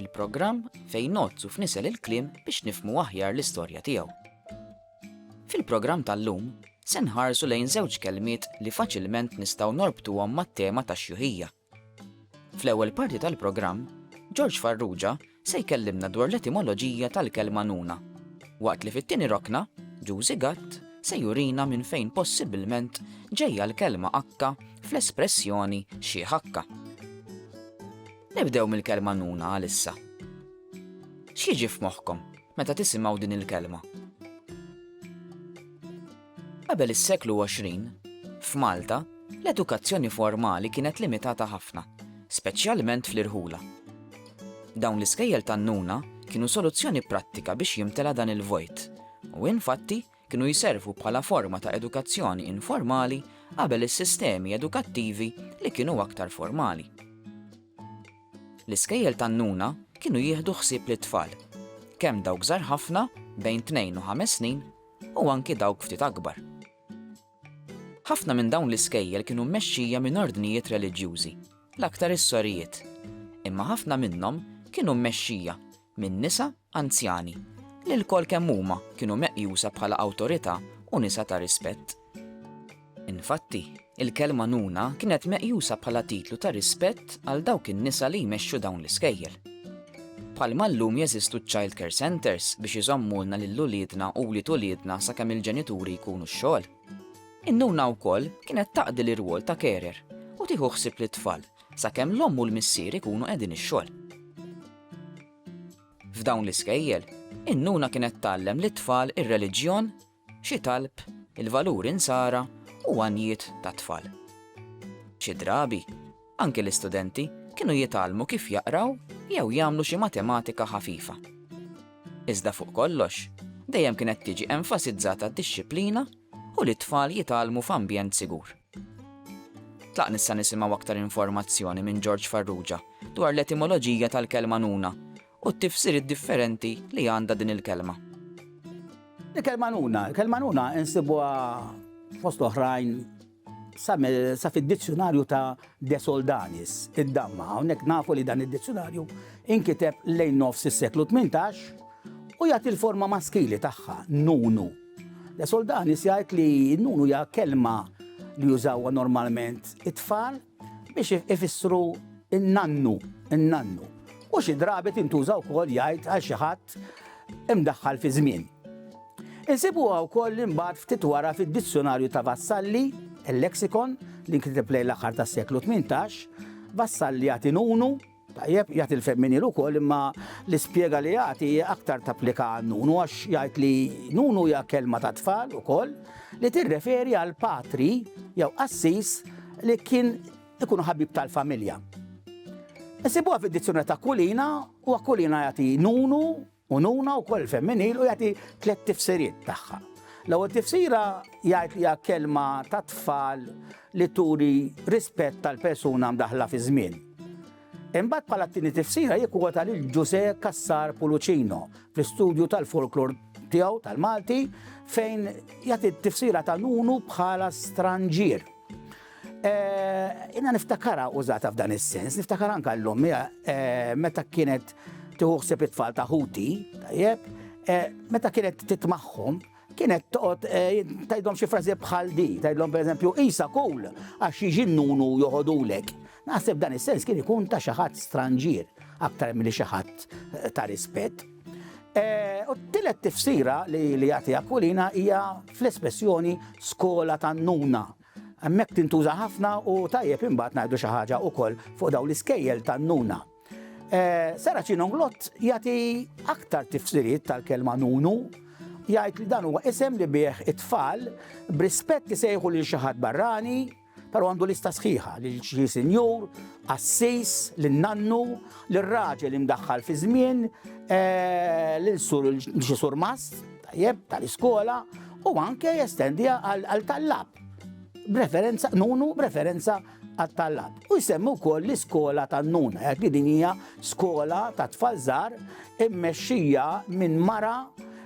Il-programm fejn nozzu f'nisel il-kliem biex nifmu aħjar l-istorja tiegħu. Fil-programm tal-lum, se nħarsu lejn żewġ kelmiet li faċilment nistgħu norbtuhom mat-tema tax-xjuħija. Fl-ewwel parti tal-programm, George Farrugia se jkellimna dwar l-etimoloġija tal-kelma nuna, waqt li fit-tieni rokna, Ġużi Gatt se jurina minn fejn possibilment ġejja l-kelma akka fl-espressjoni xi ħakka. Nibdew mill-kelma nuna għalissa. X'jiġi f'moħħkom meta tisimgħu din il-kelma? Qabel is-seklu 20, f'Malta, l-edukazzjoni formali kienet limitata ħafna, speċjalment fl-irħula. Dawn l-iskejjel tan-nuna kienu soluzzjoni prattika biex jimtela dan il-vojt, u infatti kienu jservu bħala forma ta' edukazzjoni informali qabel is-sistemi edukattivi li kienu aktar formali. L-iskejjel tan-nuna kienu jieħdu ħsieb lit-tfal, kemm dawk żgħar ħafna, bejn tnejn u ħames snin, u anki dawk ftit akbar. Ħafna minn dawn l-iskejjel kienu mmexxija minn ordnijiet reliġjużi, l-aktar is-sorijiet, imma ħafna minnhom kienu mmexxija minn nisa anzjani, li lkoll kemm huma kienu meqjusa bħala awtorità u nisa ta' rispett. Infatti, il-kelma nuna kienet meqjusa bħala titlu ta' rispett għal dawk in-nisa li jmexxu dawn l-iskejjel. Bħalma llum jeżistu ċ-child care centres biex iżommulna lil uliedna u wlied uliedna sakemm il-ġenituri jkunu x-xogħol, in-nuna wkoll kienet taqdi l-irwol ta' carer u tieħu ħsieb lit-tfal sakemm l-omm u l-missier ikunu qegħdin ix-xogħol. F'dawn l-iskejjel, in-nuna kienet tgħallem lit-tfal ir-reliġjon, xi talb, il-valuri nsara u għanjiet tat-tfal. Xi drabi, anki l-istudenti kienu jitgħallmu kif jaqraw jew jagħmlu xi matematika ħafifa. Iżda fuq kollox, dejjem kienet tiġi enfasizzata d-dixxiplina u li t-tfal jitgħallmu f'ambjent sigur. Tlaq nissa nisimgħu aktar informazzjoni minn George Farrugia dwar l-etimoloġija tal-kelma nuna u t-tifsiriet differenti li għandha din il-kelma. Il-kelma nuna, il-kelma nuna insibuha fost oħrajn sa fid-dizzjonarju ta' De Soldanis, id-damma, hawnhekk nafu li dan id-dizzjonarju inkiteb lejn nofs is-seklu 18 u jagħti l-forma maskili tagħha, nunu. Le Soldanis jgħid li n-nun hija kelma li jużawha normalment it-tfal biex ifissru n-nannu, n-nannu. U xi drabi tintuża wkoll jgħid għal xi ħadd imdaħħal fi żmien. Insibuha wkoll imbagħad ftit wara fid-Dizzjonarju ta' Vassalli, il-Lexicon, li nkiteb lejn l-aħħar tas-seklu 18, Vassalli jagħti nunu, Tajjeb, jagħti l-femminiel ukoll imma l-ispjega li jagħti hija aktar tapplika għan-nunu għax jgħid li nunu hija kelma ta' tfal ukoll li tirreferi għal patri jew qassis li kien ikun ħabib tal-familja. Isibuha fid-dizzjunarju ta' Kulina u Kulina jagħti nunu Ununa wkoll femminil u jagħti tliet tifsiriet tagħha. L-ewwel tifsira jgħid li hija kelma ta' tfal li turi rispett tal-persuna mdaħla fi żmien. Imbagħad bħala t-tieni tifsira jikkwota lil Ġuse Kassar Pulucino fl-istudju tal-folklor tiegħu tal-Malti fejn jagħti t-tifsira ta' nunu bħala stranġier. Inna niftakara użata f'dan is-sens, niftakara anka l-lum, meta kienet tiħuħseb it-tfal ta' ħuti, tajjeb, meta kienet titmaħħom, kienet toqgħod eh, tajdhom xi frażi bħal di, tajdhom pereżempju isa kull għax jiġi nunu joħodulek. Naħseb dan is-sens kien ikun ta' xi ħadd stranġier aktar milli xi ħadd eh, ta' rispett. Eh, u t-tillet tifsira li jagħti Aquilina hija fl-espressjoni skola tan-nuna. Hemmhekk tintuża ħafna u tajjeb imbagħad ngħidu xi ħaġa wkoll fuq dawn l-iskejjel tan-nuna. Eh, Sara Ċinonglott jagħti aktar tifsiriet tal-kelma nunu jgħid li dan huwa isem li bih it-tfal b'rispett isejħu lil xi ħadd barrani pero għandu lista sħiħa li xi sinjur, assis, l-nannu, l-raġel imdaħħal fi żmien, eh, l-sur l-xisur mast, tajjeb tal-iskola u anke jestendiha għal tallab. B'referenza, nunu b'referenza għat-tallab. U jsemmu wkoll l-iskola tan-nuna, jgħid li din hija skola ta' tfal żgħar immexxija minn mara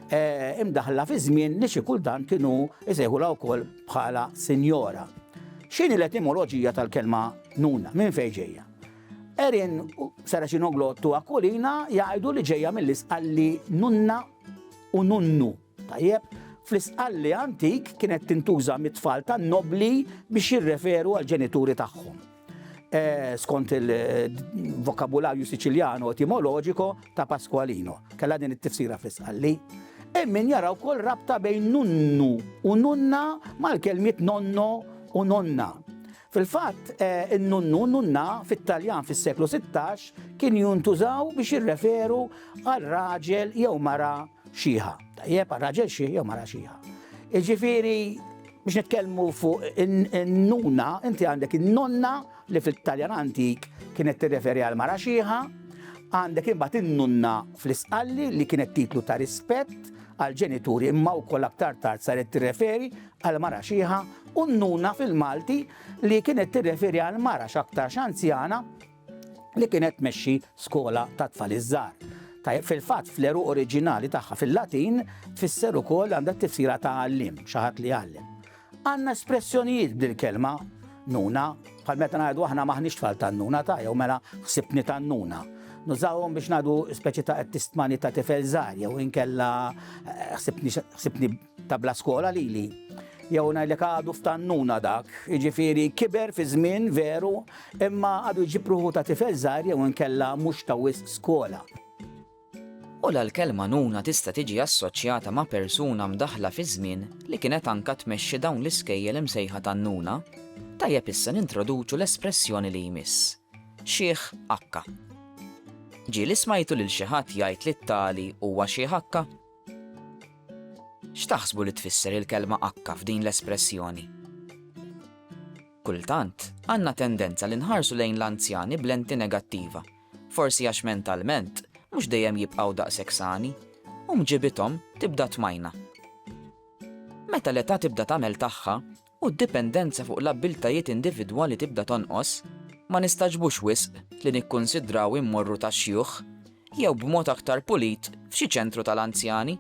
eh, imdaħla fi żmien li xi kultant kienu jsejħula wkoll bħala sinjora. X'inhi l-etimoloġija tal-kelma nuna? Minn fejn ġejja? Erin Saraċino Glottu Akulina jgħidu li ġejja mill-isqalli nunna u nunnu. Tajjeb, fl-istqalli antik kienet tintuża mit-tfal tan-nobbli biex jirreferu għall-ġenituri tagħhom. Eh, skont il-vokabularju siċiljano etimoloġiko ta' Pasqualino. Kella din it-tifsira fl-isqalli. Emmin jara wkoll rabta bejn nunnu u nunna mal-kelmiet nonno u nonna. Fil-fatt, in-nunnu u n-nunna fit-Taljan fis-seklu sittax kien juntużaw biex jirreferu għal raġel jew mara xieħa. Tajjeb, għal raġel xieħ jew mara xieħa. Jiġifieri biex nitkellmu fuq in-nuna, inti għandek in-nonna li fit-Taljan antik kienet tirreferi għal mara xieħa, għandek imbagħad in-nunna fl-isqalli li kienet titlu ta' rispett għal ġenituri imma wkoll aktar tard saret tirreferi għal mara xiħa u nnuna fil-Malti li kienet tirreferi għal mara x'aktarx anzjana li kienet tmexxi skola tat-tfal iż-żgħar. Tajjeb fil-fatt fl-eruq oriġinali tagħha fil-Latin tfisser ukoll għandha tifsira ta' għallim, xi ħadd li jgħallem. Għandna espressjonijiet bil-kelma nuna, bħal meta ngħidu aħna maħniex tfal tan-nuna ta' jew mela ħsibni tan-nuna. Nużawhom biex ngħidu speċi ta' tistmani ta' tifel żgħar jew inkella eh, ħsibni Ta' bla skola lili. Jew ngħidlek għadu f'tannuna dak, jiġifieri kiber fi żmien veru, imma għadu jġib ruħu ta' tifel żgħir jew inkella mhux ta' wisq skola. U la l-kelma nuna tista' tiġi assoċjata ma' persuna mdaħħla fiż-żmien li kienet anka tmexxi dawn l-iskejjel imsejħa tannuna? Tajjeb issa nintroduċu l-espressjoni li jmiss. Xiħ akka. Ġieli smajtu lil xi ħadd jgħid li t-tali huwa xiħ akka? X'taħsbu li tfisser il-kelma akka f'din l-espressjoni? Kultant, għandna tendenza li nħarsu lejn l-anzjani b'lenti negattiva, forsi għax mentalment mhux dejjem jibqgħu daqshekk sani, u mġibithom tibda tmajna. Meta l-età tibda tagħmel tagħha, u d-dipendenza fuq l-abbiltajiet individwali tibda tonqos, ma nistagħġbux wisq li nikkunsidraw immorru tax-xjuħ, jew b'mod aktar pulit f'xi ċentru tal-anzjani.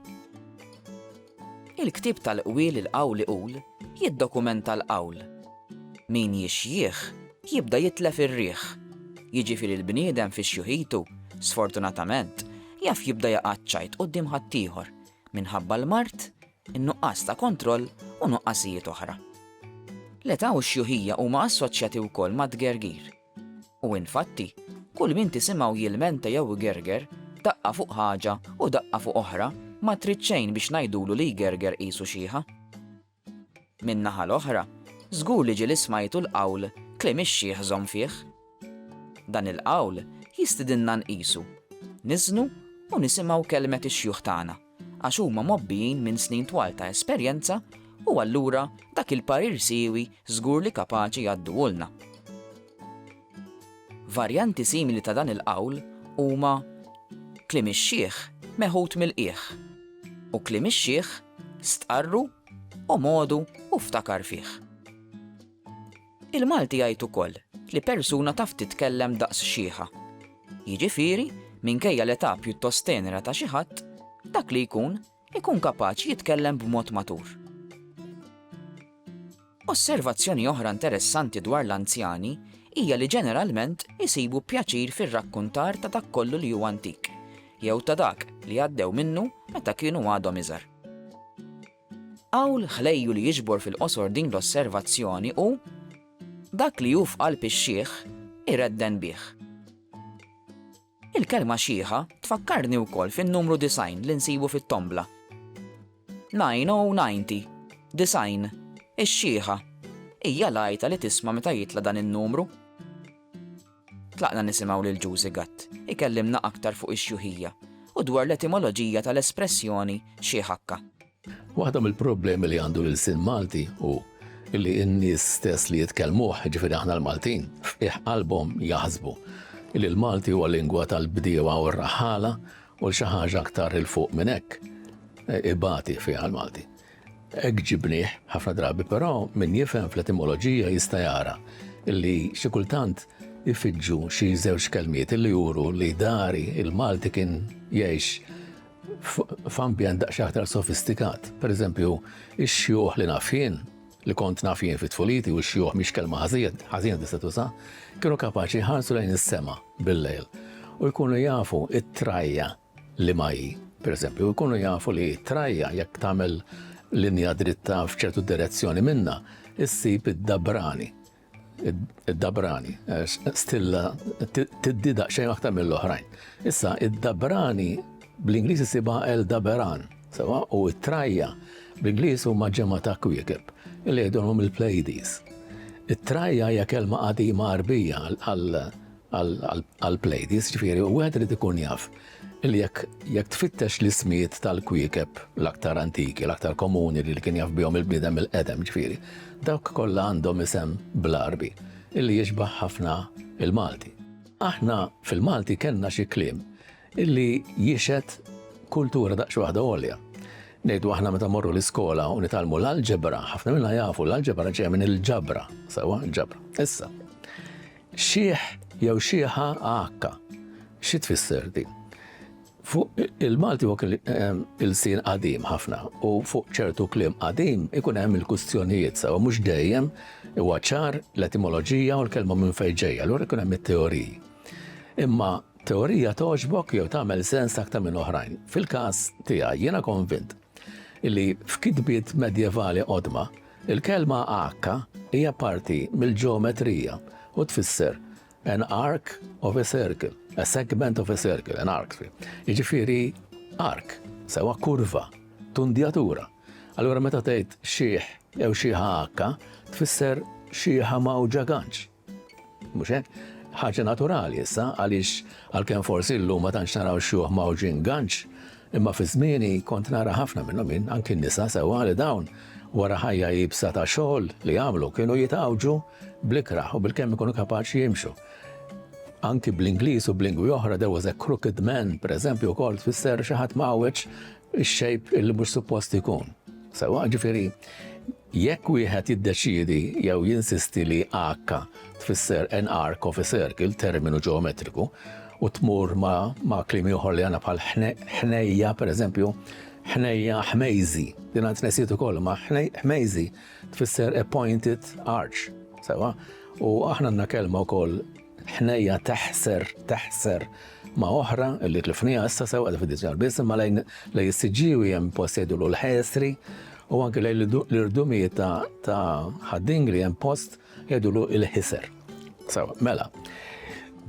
Il-ktieb tal-qwiel Il-Qawl Iqul jiddokumenta l-qawl, Min jixjieħ jibda jitlef ir-riħ, jiġifieri l-bniedem fi xjuħitu, sfortunatament, jaf jibda jaqa' ċ-ċajt quddiem ħaddieħor minħabba l-mard in-nuqqas ta' kontroll u nuqqasijiet oħra. L-età u x-xjuħija huma assoċjati wkoll mat-tgergir. U infatti, kull min tisimgħu jilmenta jew igerger, daqqa fuq ħaġa u daqqa fuq oħra, ma trid xejn biex ngħidulu li jgerger qisu xieħa. Min-naħa l-oħra, żgur li ġieli smajtu l-qawl kliem ix-xiħ żomm fih. Dan il-qawl jistidinna nqisu, niżnu u nisimgħu kelmet ix-xjuħ tagħna. għax huma mgħobbijin minn snin twal ta' esperjenza u allura dak il-parir siewi żgur li kapaċi jgħadduhulna. Varjanti simili ta' dan il-qawl huma kliem ix-xiħ meħud mill-qiegħ u kliem ix-xiħ stqarru, omodu u ftakar fih. Il-Malti jgħid ukoll li persuna taf titkellem daqs xiħa. Jiġifieri, minkejja l-età pjuttost tenera ta' xi ħadd, dak li jkun, ikun kapaċi jitkellem b'mod matur. Osservazzjoni oħra interessanti dwar l-anzjani hija li ġeneralment isibu pjaċir fir-rakkuntar ta' dak kollu li hu antik, jew ta' dak li għaddew minnu meta kienu għadhom iżgħar. Qawl ħlejju li jiġbor fil-qosor din l-osservazzjoni hu, Dak li hu f'qalb ix-xiħ, iredden bih. Il-kelma xiħa tfakkarni wkoll fin-numru disgħin li nsibu fit-tombla. Nine oh ninety, disgħin, ix-xiħa, hija l-għajta li tisma' meta jitla' dan in-numru. Tlaqna nisimgħu lil Ġużi Gatt ikellimna aktar fuq ix-xjuħija u dwar l-etimoloġija tal-espressjoni xiħakka. Waħda mill-problemi li għandu l-ilsien Malti hu li n-nies stess li jitkellmuh, jiġifieri aħna l-Maltin, f'qiegħ qalbhom jaħsbu li l-Malti huwa lingwa tal-bdiewa u r-raħħala u l xi ħaġa aktar 'il fuq minn hekk ibati fiha l-Malti. Hekk ġibnieh ħafna drabi, però min jifhem fl-etimoloġija jista' jara li xi kultant ifiġġu xi żewġ kelmiet li juru li dari, il-Malti kien jgħix f'ambjent daqsxejn aktar sofistikat. Pereżempju, ix-xjuħ li naf jien, li kont naf jien fi tfuliti u x-xjuħ mhix kelma ħażina tista' tuża, kienu kapaċi jħarsu lejn is-sema bil-lejl u jkunu jafu t-trajja liema hi. Pereżempju, ikunu jafu li t-trajja jekk tagħmel linja dritta f'ċertu direzzjoni minnha, issib id-dabrani. Id-dabrani, eh, stilla tiddi daqsxejn aktar mill-oħrajn. Issa, id-dabrani bl-Ingliż isibha el daberan, sewa u t-trajja bl-Ingliż huma ġemma ta' kwiekeb li jgħidulhom il-Pleiades. It-trajja hija kelma qadima Arbija għal għall-Plejdies, ġifieri wieħed irid ikun jaf li jekk jekk tfittex l-ismijiet tal-kwiekeb l-aktar antiki, l-aktar komuni li kien jaf bihom il-bniedem il-qedem ġifieri, dawk kollha għandhom isem bl-Għarbi illi jixbaħ ħafna il-Malti. Aħna fil-Malti kellna xi kliem illi jixed kultura daqs waħda għolja. Nejdu aħna meta morru l-iskola u nitalmu l-alġebra, ħafna minna jafu l-alġebra ġeja minn il-ġabra, sawa, ġabra. Issa, Xiħ jew xiħa AH. Xi tfisser din? Fuq il-Malti huwa il-sin qadim ħafna u fuq ċertu kliem qadim ikun hemm il-kustjonijiet sewa mhux dejjem huwa ċar l-etimoloġija u l-kelma minn fejn ġejja, allura jkun hemm it-teoriji. Imma teorija togħġbok jew tagħmel sens aktar minn oħrajn. Fil-każ tiegħi jiena konvint li f'kitbiet medjevali qodma Il-kelma għakka hija parti mill-ġeometrija u tfisser an arc of a circle, a segment of a circle, an arc, jiġifieri arc, sewwa kurva, tundjatura. Allura meta tgħid xieħ jew xieħa għakka, tfisser xieħa mgħawġa ganċ. Mhux hekk? Ħaġa naturali issa għaliex għalkemm forsi llum ma tantx naraw xjuħ mgħawġin ganċ, imma fi żmieni kont nara ħafna minnhom jien, anki n-nisa sewwa li dawn wara ħajja iebsa ta' xogħol li jagħmlu kienu jitgħawġu bl-ikrah u bil-kemm ikunu kapaċi jimxu. Anki bl-Ingliż u b'lingwi oħra there was a crooked man, pereżempju wkoll tfisser xi ħadd mgħawweġ ix-xejb illi mhux suppost ikun. Sewwa ġifieri Jekk wieħed jiddeċiedi jew jinsisti li H tfisser an arc of a circle, terminu ġeometriku, u tmur ma' ma' kliem ieħor li għandna bħal ħnejja, pereżempju, ħnejja ħmejżi, din għand nesiet ukoll ma' ħmejżi tfisser a pointed arch, sewa, u aħna għandna kelma wkoll ħnejja teħser, teħser ma' oħra li tlifnija issa sew għal fid-diġar biss imma lejn lejn is-siġġiewi hemm post jgħidulu l-ħesri u anke lejn l-irdumijiet ta' ħaddingri hemm post jgħidulu l-ħiser. Sew, mela.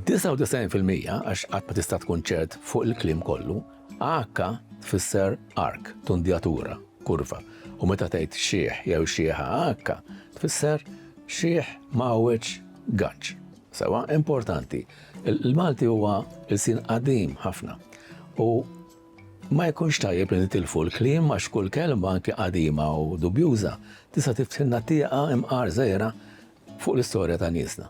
99% għax qatt ma tista' tkun ċert fuq il-klim kollu, għakka tfisser ark, tundjatura, kurva. U meta tgħid xieħ jew xieħa għakka tfisser Xiħ ma għawedx ganċ. Sewa, importanti. Il-Malti huwa l-sin qadim ħafna. U ma jkunx tajjeb li nitilfu l-klim għax kull kelma anki qadima u dubjuża tista' tiftinna tieqa imqar żejra fuq l-istorja ta' niesna.